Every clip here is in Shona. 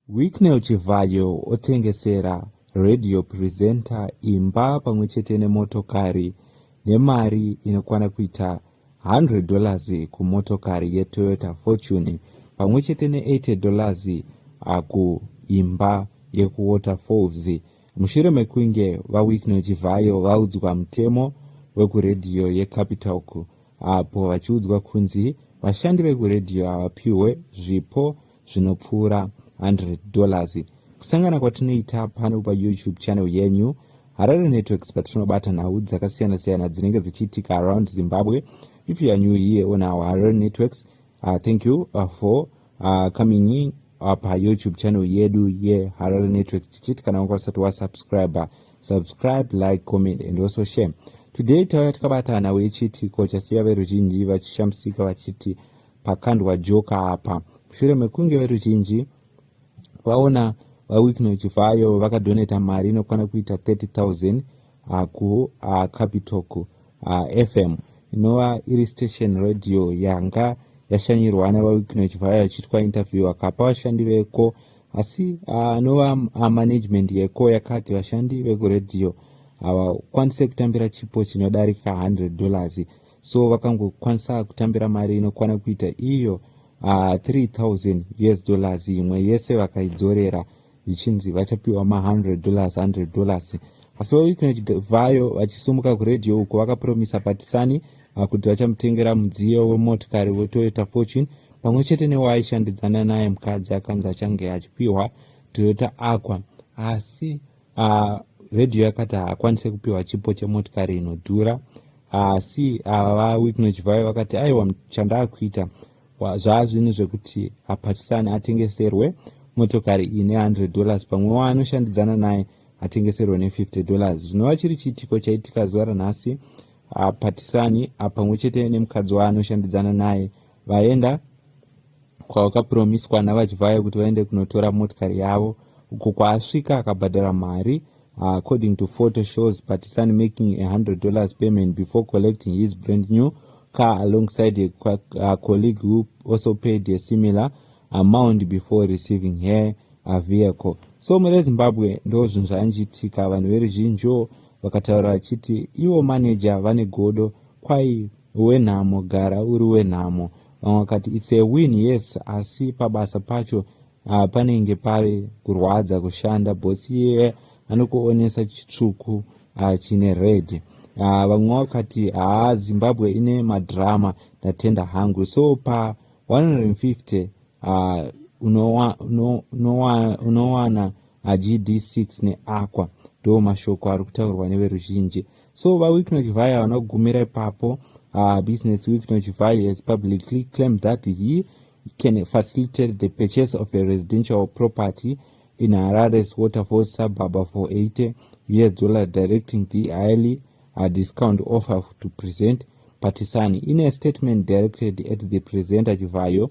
Wicknell Chivhayo otengesera radio presenter imba pamwe chete nemotokari nemari inokwana kuita 100 dollars kumotokari yeToyota Fortune pamwe chete ne80 dollars kuimba yekuWaterfalls mushure mekunge VaWicknell Chivhayo vaudzwa mutemo wekuredhiyo yeCapitalk apo vachiudzwa kunzi vashandi vekuredhiyo havapiwe zvipo zvinopfuura 100 dollars kusangana kwatinoita pano payoutube channel yenyu harare networks patinobata nhau dzakasiyana-siyana dzinenge dzichiitika around zimbabwe if you are new here on our harare networks uh, thank you uh, for uh, coming in uh, payoutube channel yedu yeharare networks tichiti kana wanga usati wasubscribe subscribe like comment and also share today tauya takabata nhau yechiitiko chasiya veruzhinji vachishamisika vachiti pakandwa joka apa mushure mekunge veruzhinji vaona vawickno chivhayo vakadoneta mari inokwana kuita 30000 ah, kucapitalk uh, ah, uh, ah, fm inova iri station radio yanga yashanyirwa nevawickno chivhayo achiitwa interview akapa vashandi veko asi anova uh, management yeko yakati vashandi vekuradio havakwanise kutambira chipo chinodarika 100 dollars so vakangokwanisa kutambira mari inokwana kuita iyo uh, ah, 3000 us dollars imwe yese vakaidzorera zvichinzi vachapiwa ma100 dollars 100 dollars asi vaweekend vayo vachisumuka kuredio uko vakapromisa patisani ah, kuti vachamutengera mudziyo wemotikari wetoyota fortune pamwe chete newaaishandidzana naye mukadzi akanzi achange achipiwa toyota aqua asi Uh, radio yakati haakwanise kupiwa chipo chemotikari inodhura asi uh, ava vawicknoch vayo vakati aiwa chandaakuita zvaazvinhu zvekuti apatisane atengeserwe motokari ine 100 dollars pamwe waanoshandidzana naye atengeserwe ne50 dollars zvinova chiri chiitiko chaitika zuva ranhasi apatisani apamwe chete nemukadzi waanoshandidzana naye vaenda kwavakapuromiswa navachivhayo kuti vaende kunotora motikari yavo uko kwaasvika akabhadhara mari according to photo shows patisani making a 100 dollars payment before collecting his brand new car alongside a, a colleague who also paid a similar amount before receiving her a vehicle so mune zimbabwe ndo zvinhu zvanjitika vanhu veruzhinjiwo Vakataura vachiti ivo manager vane godo kwai wenhamo gara uri wenhamo. Vamwe vakati it's a win yes asi pabasa pacho uh, panenge pave kurwadza kushanda boss iye anokuonesa chitsvuku uh, chine red uh, vamwe vakati haa ah, zimbabwe ine madrama ndatenda hangu so pa 150 uh, unowana uno, uno, uno, uno, agd6 neaqua ndo mashoko ari kutaurwa neveruzhinji so vawicknock vhai havana kugumira ipapo uh, business wicknock vhai has publicly claimed that he can facilitate the purchase of a residential property in harare's waterfall suburb for 80 us dollar directing the highly uh, discount offer to present patisani in a statement directed at the presenter chivhayo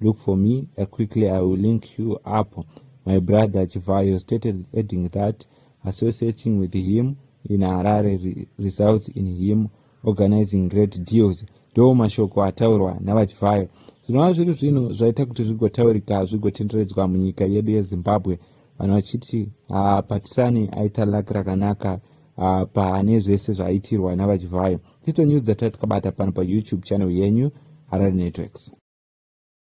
look for me uh, quickly i will link you up my brother chivayo stated adding that associating with him in harare results in him organizing great deals ndo mashoko ataurwa navachivayo zvinova zviri zvinhu zvaita kuti zvigotaurika zvigotenderedzwa munyika yedu yezimbabwe vanhu vachiti ah, patisani aita laki rakanaka ah, pane zvese zvaitirwa navachivayo uh, Tito News dzatati kabata pano pa YouTube channel yenyu Harare Networks.